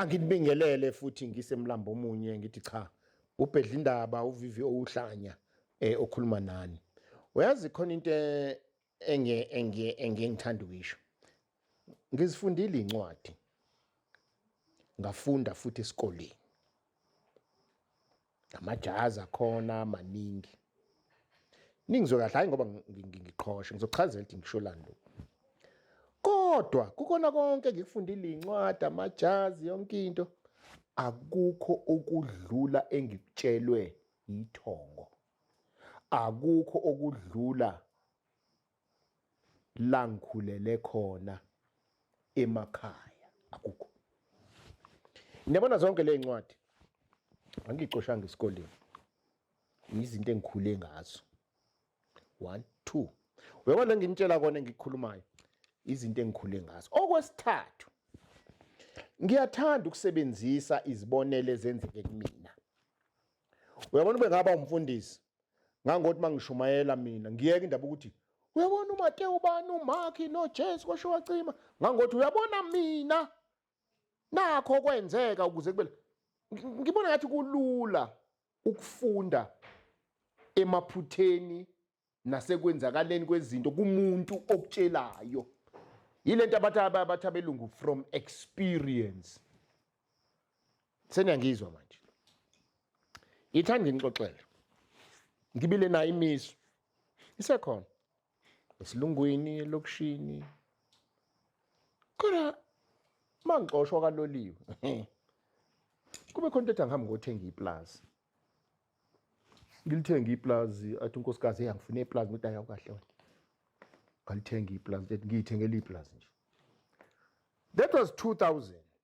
Anginibingelele futhi ngise mlambo omunye ngithi cha ubhedla indaba uvivi owuhlanya eh okhuluma nani. Uyazi khona into e-, enge enge engengithanda ukisho. Ngizifundile incwadi. Ngafunda futhi esikoleni. amajazi akhona amaningi ningizwe kahle hayi ngoba ngiqhoshe ngizochazela ukuthi ngisho lando kodwa kukona konke ngikufundile incwadi amajazi yonke into akukho okudlula engikutshelwe yithongo akukho okudlula la ngikhulele khona emakhaya akukho niyabona zonke le ncwadi angicoshanga esikoleni yizinto engikhule ngazo one two uyabona la nginitshela kona engikhulumayo izinto engikhule ngazo okwesithathu ngiyathanda ukusebenzisa izibonelo ezenzeke kumina uyabona ube ngaba umfundisi ngangothi mangishumayela mina ngiyeke indaba ukuthi uyabona uMatewu bani uMakhi noJesu kwasho wacima ngangothi uyabona mina nakho kwenzeka ukuze kube ngibona ngathi kulula ukufunda emaphutheni nasekwenzakaleni kwezinto kumuntu okutshelayo yilento abathi abathi abelungu from experience seniyangizwa manje ngithanda nginixoxele ngibile nayo imiso isekhona esilungwini elokishini kodwa mangixoshwa kaloliwe kube khona into ethi angihambi ngothenga iplazi ngilithenga iplazi athi unkosikazi eyangifuna iplazi ngithi ayawukahle wena ngalithenga iplazi ethi ngiyithengela iplazi nje that was 2000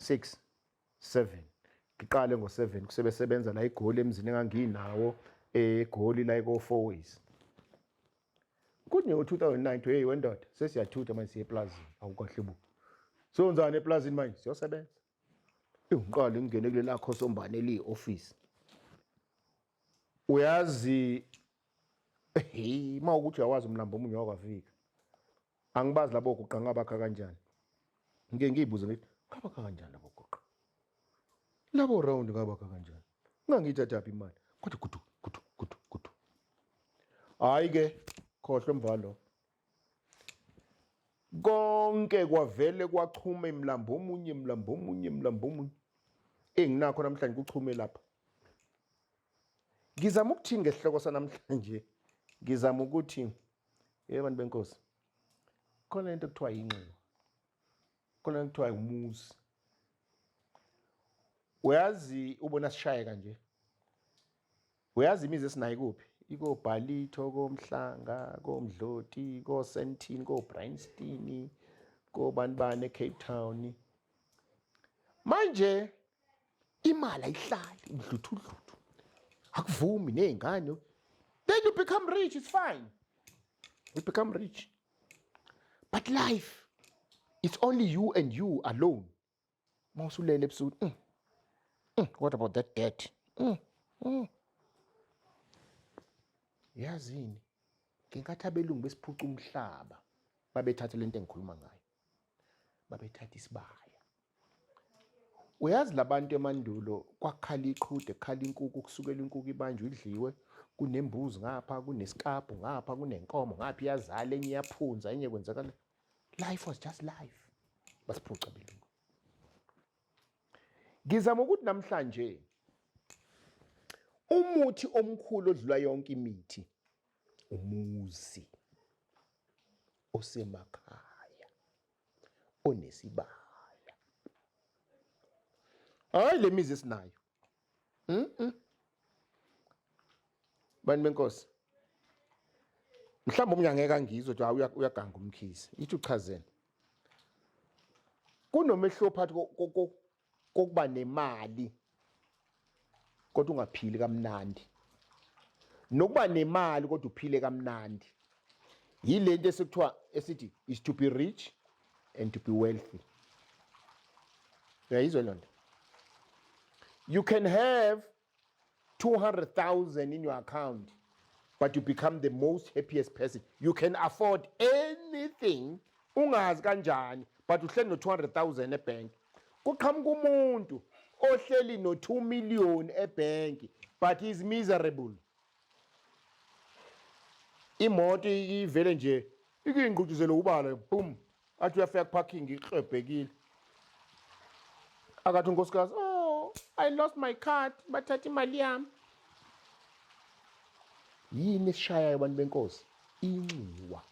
6 7 ngiqale ngo-7 kusebesebenza la igoli emzini enganginawo egoli la iko-four ways kunyewo 2009 hey wendoda sesiyathutha manje siye eplazini awukahle bo siyonzani eplazini manje siyosebenza ngiqale ngingene kule lakho sombane eliyi-ofisi uyazi hey uma ukuthi uyawazi umlambo omunye wakwafika angibazi labo guqa ngabakha kanjani ngike ngiyibuze ngithi ngabakha kanjani labo guqa labo round ngabakha kanjani ngangiyithathaphi imali kodwa gudu gudu gudu gudu hayi ke khohlwe mvalo konke kwavele kwachuma imlambo omunye imlambo omunye imlambo omunye enginakho namhlanje kuchume lapha ngizama ukuthini ngesihloko sanamhlanje ngizama ukuthi Yebo bantu benkosi. Khona into ekuthiwa yinxiwa. Khona ekuthiwa umuzi. Uyazi ubona sishaye kanje. Uyazi imizi esinayo kuphi? ikobhalitho komhlanga komdloti kosentin kobreinstein kobani bani ecape town manje imali ayihlali udluthudluthu akuvumi ney'ngane then you become rich it's fine you become rich but life it's only you and you alone uma usulele ebusuku mm. mm. what about that debt mm. mm. yazini ngenkathi abelungu besiphuca umhlaba babethathe le nto engikhuluma ngayo babethatha isibaya uyazi labantu emandulo kwakhala iqhude kukhala inkuku kusukela inkuku ibanjwe idliwe kunembuzi ngapha kunesikabhu ngapha kunenkomo ngapha iyazala enye iyaphunza enye kwenzakala life was just life basiphuca belungu ngizama ukuthi namhlanje umuthi omkhulu odlula yonke imithi umuzi osemakhaya onesibaya hayi le mizi esinayo mm -mm. bantu benkosi mhlawumbe omunye angeke angizwe ukuthi hayi uyaganga umkhizi yithi uchazeni kunomehluko phakathi kokuba nemali kodwa ungaphili kamnandi nokuba nemali kodwa uphile kamnandi yilento esikuthiwa esithi is to be rich and to be wealthy uyayizwa loo nto you can have 200,000 in your account, but you become the most happiest person. You can afford anything, ungazi kanjani, but uhleli no 200,000 ebank. Kuqhamuka umuntu ohleli no 2 million ebank, but is miserable. imoto ivele nje ikuyingqutshuzele ubala boom athi uyafika kuparking iklebhekile akathi unkosikazi oh i lost my card bathatha imali yami yini esishayayo abantu benkosi inxiwa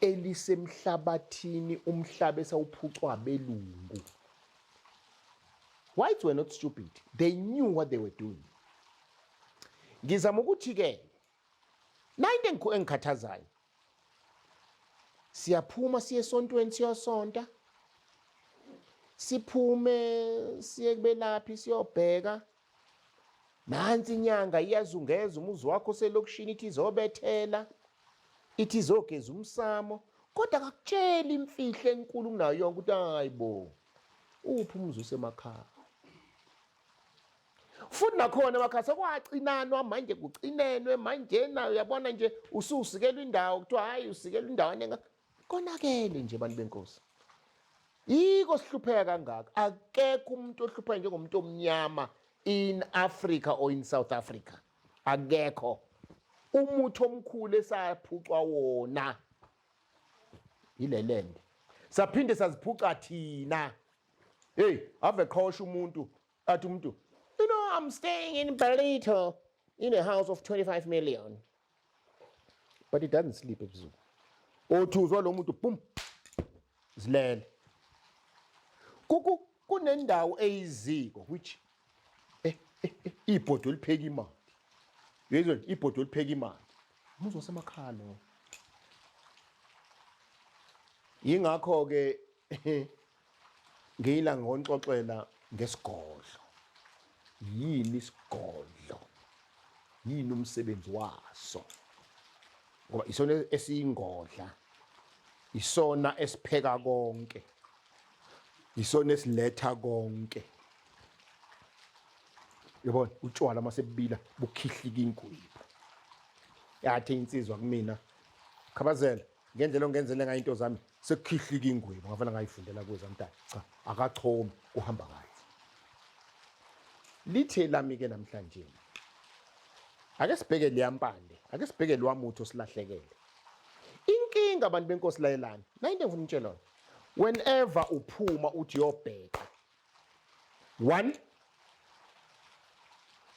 elisemhlabathini umhlaba esawuphucwa belungu Whites were not stupid. They knew what they were doing. Ngizama ukuthi ke nayinto engikho engikhathazayo. Siyaphuma siye esontweni siyosonta. Siphume siye kubelaphi siyobheka. Nansi inyanga iyazungeza umuzi wakho selokishini ithi izobethela. Ithi izogeza umsamo. Kodwa akakutsheli imfihlo enkulu kunayo yonke ukuthi hayibo. Uphi umuzi usemakhaya? futhi nakhona emakhaya sekwacinanwa manje kucinenwe manjena uyabona nje ususikelwa indawo kuthiwa hhayi usikelwa indawana enga konakele nje bantu benkosi yiko sihlupheka kangaka akekho umuntu ohlupheka njengomuntu omnyama in africa or in south africa akekho umuthi omkhulu esaphucwa wona yilelende saphinde saziphuca thina hey ave qhosha umuntu athi umuntu you know i'm staying in Ballito in a house of 25 million but it doesn't sleep ebusuku othuzwa lo muntu boom zilele kuku kunendawo eyiziko which eh, eh, eh, ibhodo elipheka imali uyezwa ibhodo elipheka imali umuzi wasemakhaya lo yingakho ke ngiyila ngonxoxela ngesigodlo Yini isigodlo? Yini umsebenzi waso? Ngoba isona esiyingodla, isona esipheka konke, isona esiletha konke. Yabona utshwala uma sebubila bukhihlika ingwebu. Yathi insizwa kumina, Khabazela, ngendlela ongenzele ngayo into zami sekukhihlika ingwebu ngavela ngayifundela kuwe zamntana cha akachomi kuhamba kahle lithe lami-ke namhlanje ake sibheke liyampande ake sibheke lwamuthi osilahlekele inkinga abantu benkosi layelani nayinto engifuna umtshelona whenever uphuma uthi yobheka one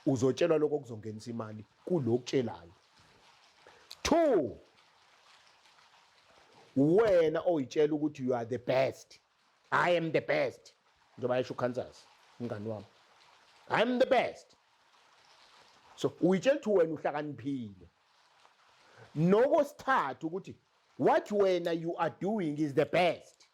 uzotshelwa lokho kuzongenisa imali kulokutshelayo two wena oyitshela ukuthi you are the best i am the best njengoba yesho ukansas umngani wami i am the best so uyitshela ukuthi wena uhlakaniphile nokosithathu ukuthi what wena you are doing is the best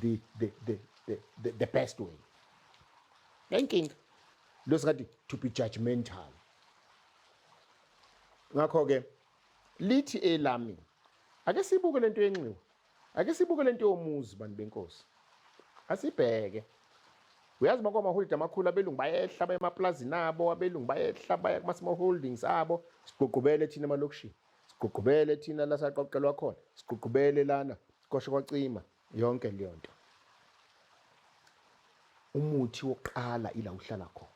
the, the, the, the, the, the best way nayinkinga lo singathi to be judgmental ngakho-ke lithi elami ake sibuke le nto yenxiwa ake sibuke le nto yomuzi bantu benkosi asibheke uyazi uma kwamaholide amakhulu abelungu bayehla baye emaplazini abo abelungu bayehla baya kuma-small holdings abo sigqugqubele thina emalokishini Sigqugqubele thina la saqoqelwa khona, sigqugqubele lana kosho kwacima yonke leyo nto. Umuthi wokuqala ila uhlala khona.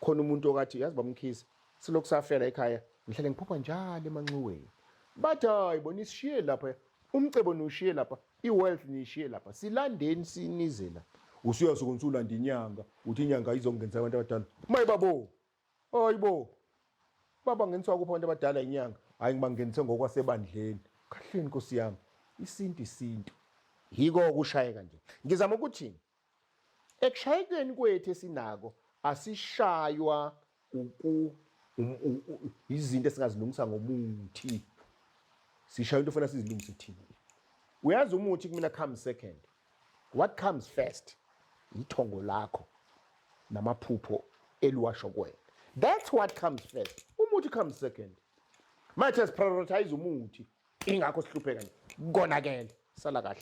Khona umuntu okathi yazi bamkhisi silokhu safela ekhaya ngihlale ngiphupha njalo emanxiweni. Bathi hayi bona isishiye lapha umcebo niwushiye lapha i-wealth niyishiye lapha silandeni sinizela usuyasuke ngisulanda inyanga uthi inyanga izongenza abantu abadala mayibabo Hayibo. Baba ngeniswa kuphi abantu abadala inyanga? Hayi ngibangenise ngokwasebandleni. Kahleni Nkosi yami. Isintu isintu. Yiko ukushayeka nje. Ngizama ukuthi ekushayekeni kwethu esinako asishaywa uku izinto esingazilungisa ngomuthi. Sishaywa into ofuna sizilungise thina. Uyazi umuthi kumina come second. what comes first yithongo lakho namaphupho eliwasho kwena that's what comes first umuthi comes second manje siprioritize umuthi ingakho sihlupheka nje konakele sala kahle